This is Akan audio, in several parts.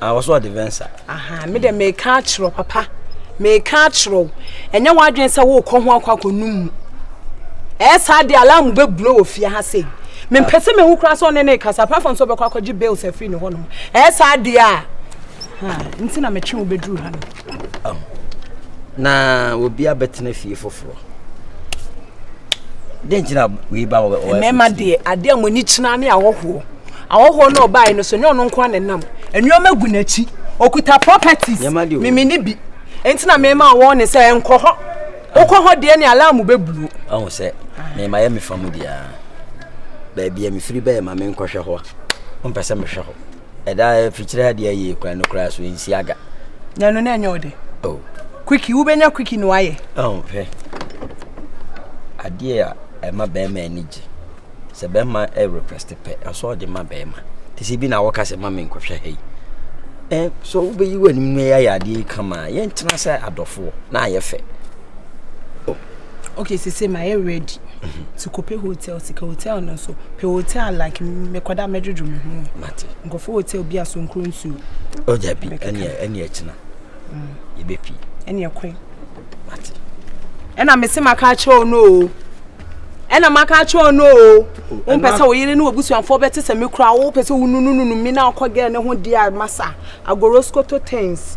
Ah, wɔso ɔde vensa. Aha, me dɛ meka akyerɛ papa. Meka akyerɛ wo. Ɛnyɛ w'adwene sɛ worekɔ ho akɔ akɔnum mu. Ɛyɛ saa de alarm bɛbulo wɔ fie ha sɛ mempɛ sɛ mehu koraa sɛ ɔne ne kasa apart from sɛ ɔbɛkɔ akɔgye bills afiri ne hɔnom. Ɛyɛ saa deɛ a nti na metwe wo bɛduru ha no. Ɔho. Na obi abɛtena fie foforɔ. Dɛn nti na wei ba wɔ wɔ. Mmarima deɛ adeɛ a mo ani kyerɛ ne ahɔhoɔ. Ahɔhoɔ no ɔbaa yi no so nyɛ ɔno nko na nam. Nneɛma gu n'akyi. Okuta properties. Mimi ni bi. Nti na mmarima wɔn ne sɛ nkɔ hɔ. Okɔ hɔ deɛ ne alarm bɛ buo. Ɔho sɛ mmarima yɛ mi fa mu deɛ. Baabi a mi firi bɛyɛ ma mi nkɔhwɛ hɔ a. Mpɛ sɛ mi hwɛ hɔ. Ɛda afikyire ha deɛ yie kura no kura so nsi aga. Na ɛno na ɛnyɛ ɔde. Oh. Kwiki wobɛnya kwiki na wayɛ. Oh, hwɛ. Adeɛ a ɛma bɛrima ani gye. Sɛ bɛrima ɛ request pɛ ɛsɛ ɔde ma bɛrima. Te sɛ bi na wɔka sɛ ma me nkɔhwɛ ha yi. Ɛ so wobɛyi w'anim no yɛ ayɛ adeɛ kama yɛntena sɛ adɔfoɔ na ayɛ fɛ. Oh. okay sese ma yɛ ready ti kɔpɛ hotel sika hotel no nso pɛ hotel like mekɔda mɛdwodwo me ho mate nkɔfo hotel bi a so nkuro nsuo ɔda bi ɛneɛ ɛneɛ kyena mm. yɛbɛpi ɛneɛ kɔe mate ɛna mese maka akyerɛ wo no o ɛna maka akyerɛ wo no o wompɛ sɛ wo yere ne wabusuafoɔ bɛte sɛ me kora wopɛ sɛ wonunununu me na wokɔ gɛ ne ho deɛ masa agoroskoto tens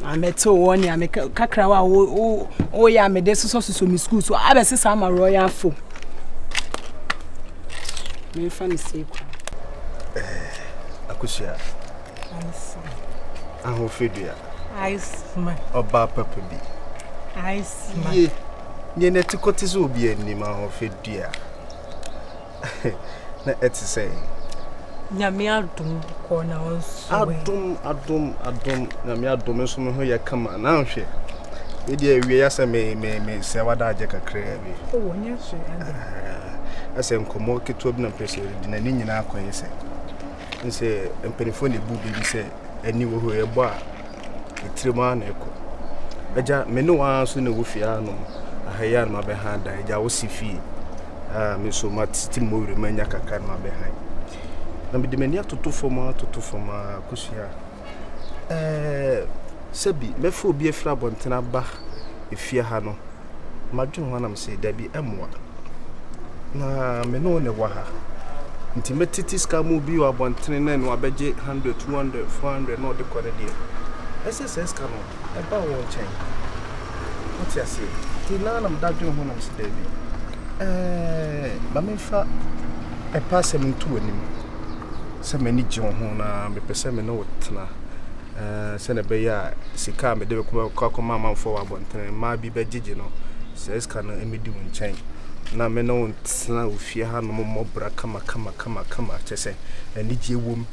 Na mɛte wɔ nea me kakra wa wo wo wo ya me de sosɔ sosɔ me school so abɛ sesa ama royal fo. Me fa me se ko. Eh, akusua. Aisa. Aho fedua. Aisma. Oba papa bi. Aisma. Ye. Nye ne te kote so obi anim aho fedua. na ɛte sɛn? Nyame adom kɔɔ na wɔn so ɛ. Adom adom adom nyame adom nso me ho yɛ kama na nhwɛ. Me deɛ awie ya sɛ me me me sɛ wada agye kakra bi. O wɔ nyɛ hwe ade. Ɛsɛ nkɔmɔ ketewa bi na mpɛ sɛ ɔredi na ne nyinaa akɔyɛ sɛ. sɛ mpanimfoɔ na ɛbu biribi sɛ ani wɔ hɔ ɛbɔ a ɛtirim ara na ɛkɔ agya me ne wɔn ara so na ɛwɔ fie anom aha yi a na mabɛha dan agya wosi fie a me nso matete mmɔ wura mu anya kakra na mabɛhan na mede m'ani atoto fam atoto fam a kɔsua Ɛɛ, sɛ bi mɛfa obi afiri abɔnten aba efie ha no, madwene ho na mesee dabi, ɛmmoa. Na me ne wo na ɛwɔ ha. Nti mɛtete sika mu bi wɔ abɔntene na ɛno abɛgye 100, 200, 400 na ɔde kɔ ne deɛ. Ɛsɛ sɛ sika no ɛba wo nkyɛn. Wote aseɛ? Nti na na meda dwene ho na mesee dabi. Ɛɛ, ma memfa ɛpɛ asɛm nto w'anim. sɛ m'ani gye wo ho na mepɛ sɛ me ne wo tena sɛdeɛ ɛbɛyɛ a sika a mede bɛkɔ akɔma amanfoɔ wɔ abɔntene mmaa bi bɛgyegye no saa sika no mmɛdi wo nkyɛn na me ne wo ntena wo fie ha nom mmɔbra kama kama kama kama kyɛ sɛ anigyeɛ wom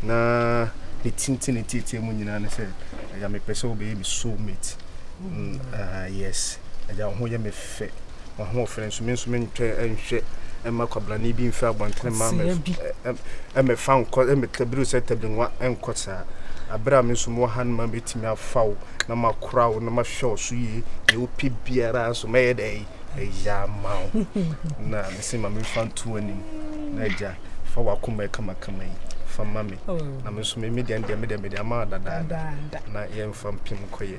na ne tinti ne tietie mu nyinaa ne sɛ agya mepɛ sɛ wobɛyɛ me soulmate mm, uh, yes agya wo ho yɛ me fɛ m'ahoɔfɛ, nanso me nso mentwa nhwɛ mma kwabrane bi mfi abɔntene mma mmɛfa nkɔ mmɛtabiru sɛ tabinnwa nkɔ saa. Bere a me nso mewɔ ha no ma metumi afa wo na makora wo na mahwɛ wo so yie, deɛ wopɛ biara nso mɛyɛ dɛ ɛyɛ ama wo. Na mese ma memfa nto w'anim na agya fa w'akoma yi kamakama yi fa ma me oh. na me nso me deɛ deɛ me deɛ me deɛ ama dadaada na yɛmfa mpem nkɔyɛ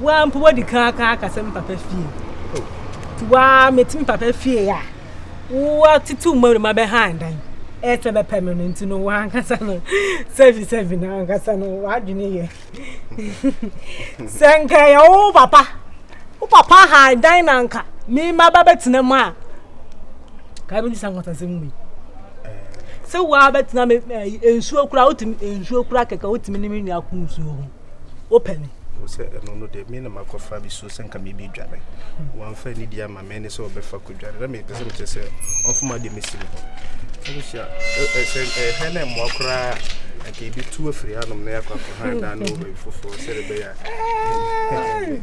Woa mpo wadi kan aka akasɛ me papa fie. Nti woa mete me papa fie a woa tete wo mmarima bɛhan dan. Ɛsɛ bɛpɛ me no nti no woa ankasa no sɛbi sɛbi na ankasa no woadwene yɛ. Sɛ nka yɛ wo papa wo papa han dan na nka me ma ba bɛtena mu a kaa bɛdi sa nkɔtasɛm wei. Sɛ woa bɛtena me nsuo kura wotumi nsuo kura kɛkɛ wotumi ne me nua ko nsuo ho. wopɛ me wo sɛ ɛno no deɛ me na makɔfa bi so sɛ nka mebi dwane wamfa ani di ama me ne sɛ ɔbɛfa kɔdwane na mepɛ sɛ mekyɛ sɛ ɔmfoma deɛ mɛsi me hɔ sɛbɛhyia sɛ ɛhɛ na mmoa koraa anka ebi tu afiri anom na yɛakɔ akɔhan daa no wɔ baabi foforɔ sɛde bɛyɛ a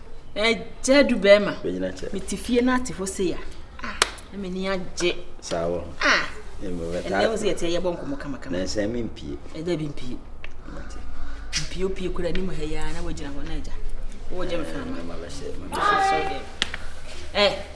Ɛgya du bɛrima. Bɛgyina kyɛ. Mete fie no ate hɔ sei a. Ah, na m'ani agye. Saa wɔ. Ah. Ɛnna ɛwɔ sɛ yɛte yɛbɔ nkɔmɔ kamakama. Na nsɛn mi mpie. Ɛda bi mpie. Mpie opie kura anim ha yi ara na wagyina hɔ na agya. Wɔgya me fama. Ɛma bɛhyɛ. Ɛma bɛhyɛ. Ɛ.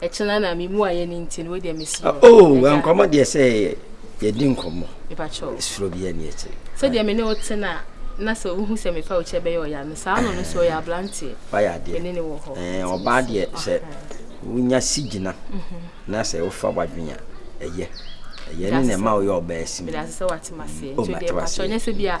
Ɛkyena na me mu ayɛ ne nti no wei deɛ me suro. Oh, nkɔmɔ deɛ sɛ yɛdi nkɔmɔ. Mepakyɛw. Suro bi ani akyi. Sɛdeɛ me ne wo te na na sɛ wohu sɛ mefa wo kyɛ bɛyɛ ɔya no saa no no so ɔyɛ abranteɛ. Wayɛ adeɛ. Me ne ne wɔ hɔ. Ɛɛ ɔbaa deɛ sɛ wonya si gyina mhm. na sɛ wofa wadwen a ɛyɛ. Ɛyɛ ne na ɛma woyɛ ɔbaa si mu. Medase sɛ wate maseɛ. Nti deɛ mpakyɛw nyɛ sɛ bi a